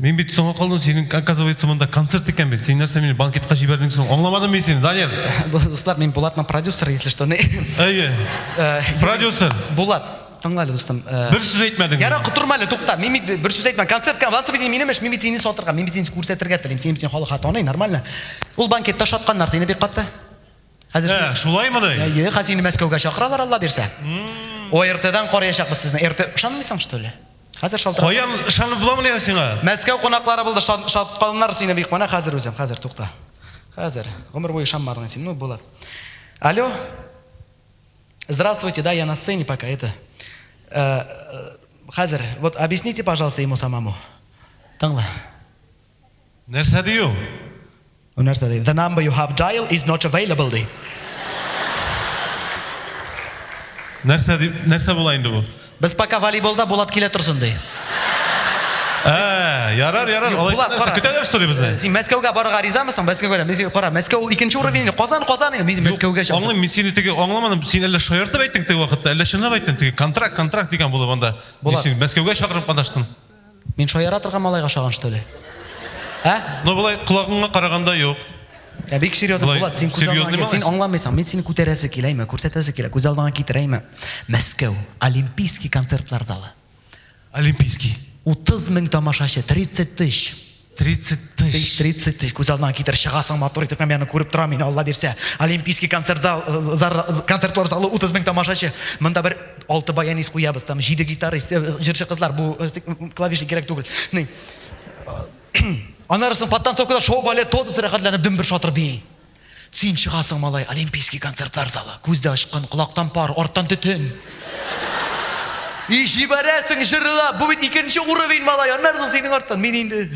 Мин бит соңга калдым, синең, оказывается, монда концерт икән бит. Син нәрсә мине банкетка җибәрдең соң? Аңламадым мин сине, Данил. Дуслар, мин Булатның продюсеры, если что. Әйе. Э, продюсер. Булат, тыңла әле, дустым. Э, бер сүз әйтмәдең. Яра, котырма әле, тукта. Мин бит бер сүз әйтмәдем. Концертка, Влад Сабитин минем эш, мин бит сине сатырга, мин бит сине күрсәтергә телим. Син бит халыкка таный, нормально. Ул банкетта шатканнар сине бик катты. Хәзер Ә, шулаймыни? Әйе, хәзер инде Мәскәүгә чакыралар, Алла бирсә. ОРТ-дан караячакбыз сезне. РТ ышанмыйсың, что ли? Хәзер шалтырат. Каян ышанып буламыни әле сиңа? Мәскәү кунаклары булды, шат- шаткалыннар сине бик. Менә хәзер үзем, хәзер тукта. Хәзер. Гомер буе ышанмадың син, ну булыр. Алло. Здравствуйте, да, я на сцене пока, это. Э, э, Хәзер, вот объясните, пожалуйста, ему самому. Тыңла. Нәрсә ди ул? Ул нәрсә ди? The number you have dial is not available ди. Нәрсә ди? Нәрсә була инде бу? Без пока волейболда Булат килә торсын ди. Ә, ярар, ярар. Алай Булат, нәрсә? кара. Көтәләр что ли безне? Син Мәскәүгә барырга ризамысың? Мәскәүгә дә. Мин кара, Мәскәү ул икенче уровень. Казан, Казан. Мин Мәскәүгә чыгам. Аңлыйм, мин сине теге аңламадым. Син әллә шаяртып әйттең теге вакытта, әллә чынлап әйттең теге контракт, контракт дигән булып анда. Булат. Син Мәскәүгә чакырып катнаштың. Мин шаяра торган малайга шаган что ли? Ә? Ну болай колагыңа караганда юк. Ә бик серьезно Булат, син күз алдыңа син аңламыйсың. Мин сине күтәрәсе килә име, күрсәтәсе килә, күз алдыңа китерә име? Мәскәү, Олимпийский концертлар залы. Олимпийский. 30 мең тамашачы, 30 тысяч. 30 тысяч. 30 тысяч. Күз алдына китер, чыгасың матур итеп, мен аны күреп торам, мин Алла бирсә. Олимпийский концерт зал, э, концертлар залы 30 мең тамашачы. Монда бер алты баянист куябыз, там 7 гитарист, э, җырчы кызлар, бу э, клавишник кирәк түгел. Ни? Анарысын подтанцовкада шоу балет тотысы рәхәтләнеп дөмбер шатыр бии. Син чыгасың, малай, Олимпийский концертлар залы. Күз дә ачкан, колактан пар, арттан төтен. И җибәрәсең, җырла! Бу бит икенче уровень, малай, аннары соң синең арттан. Мин инде.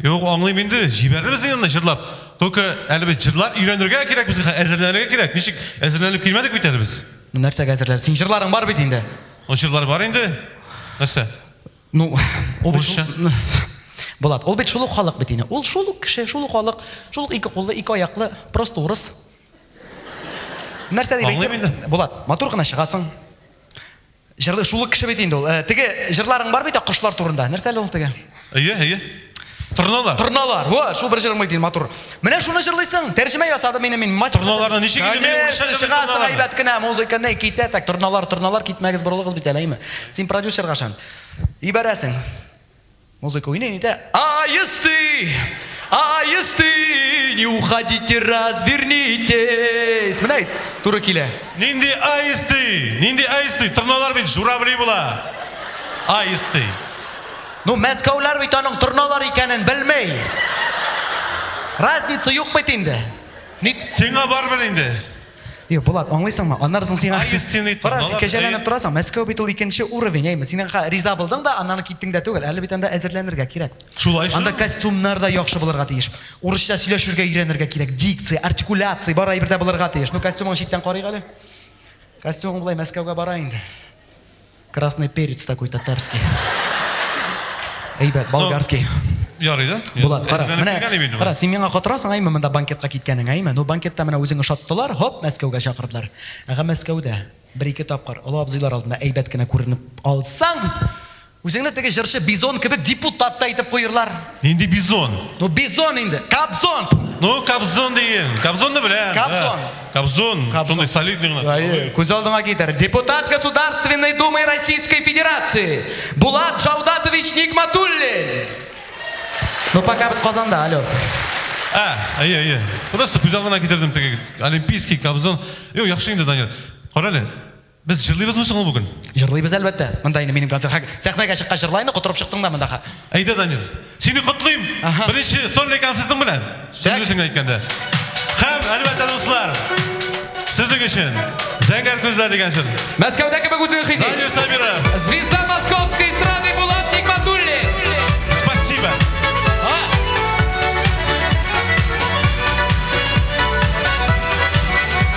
Юк, аңлыйм инде, җибәрербез инде аны җырлап. Только әле без җырлар өйрәнергә кирәк безгә, әзерләнергә кирәк. Ничек, әзерләнеп килмәдек бит әле без. Ну нәрсәгә әзерләр? Синең җырларың бар бит инде. Ну җырлар бар инде. Нәрсә? Ну, урысча. Булат, ул бит шул ук халык бит инде. Ул шул ук кеше, шул ук халык, шул ук ике куллы, ике аяклы, просто урыс. Нәрсә дип әйтсәм, Булат, матур гына чыгасың. Җырлы шул ук кеше бит инде ул. Э, теге җырларың бар бит, кошлар турында. Нәрсә әле ул теге? Әйе, әйе. Торналар. Торналар. Во, шул бер җырың бит матур. Менә шуны җырлыйсың. Тәрҗемә ясадым мин мин мастер. Торналарны ничек инде мин урысча җырлыйм? Чыгасы әйбәт кенә музыка не китә так. Торналар, торналар китмәгез борылыгыз бит әләйме. Син продюсерга шан. Ибәрәсең. Музыка уйный нидә? Аисты! Аисты! Не уходите, развернитесь. Менә туры килә. Нинди аисты? Нинди аисты? Торналар бит журавли була. Аисты. Ну, мәскәүләр бит аның торналар икәнен белмей. Разница юк бит инде. Ник сиңа барбер инде? Йо, Булат, аңлыйсыңмы? Аннары соң сиңа Кара, син кәҗәләнеп торасың. Мәскәү бит ул икенче уровень, әйме. Син аңа риза булдың да, аннан киттең дә түгел. Әле бит анда әзерләнергә кирәк. Шулай шул. Анда костюмнар да яхшы булырга тиеш. Урысча сөйләшергә өйрәнергә кирәк. Дикция, артикуляция бар әйбердә булырга тиеш. Ну, костюмың читтән карыйк әле. Костюмың болай Мәскәүгә бара инде. Красный перец такой татарский. Әйбәт, болгарский. Ярый да? Булат, кара, менә, кара, син миңа котырасың, әйме, монда банкетка киткәнең, әйме. Ну, банкетта менә үзең ошаттылар, хоп, Мәскәүгә чакырдылар. Әгә Мәскәүдә бер-ике тапкыр олы абзыйлар алдында әйбәт кенә күренеп алсаң, үзеңне теге җырчы Бизон кебек депутат та итеп куерлар. Нинди бизон? Ну бизон инде. Кобзон. Ну кобзон деген. Кобзонны беләм. Кобзон. Кобзон. Шундый солидный гына. Әйе, күз алдыңа китер. Депутат Государственной Думы Российской Федерации Булат Шаудатович Нигматуллин. Ну пока без Казанда, алло. А, әйе, әйе. Просто күз алдына китердем теге олимпийский кобзон. Юк, яхшы инде, Данил. Кара әле. Без җырлыйбызмы соң ул бүген? Җырлыйбыз, әлбәттә. Монда инде минем концерт. Хәк, сәхнәгә чыккач җырла инде, котырып чыктың да монда, хәк. Әйдә, Данил, сине котлыйм Аһа. беренче сольный концертың белән, дөрес генә әйткәндә. Һәм, әлбәттә, дуслар, сезнең өчен Зәңгәр күзләр дигән җыр. Мәскәүдә кебек үзең хис ит. Данил Сабиров. Звезда московской эстрады Булат Нигматуллин! Спасибо. А!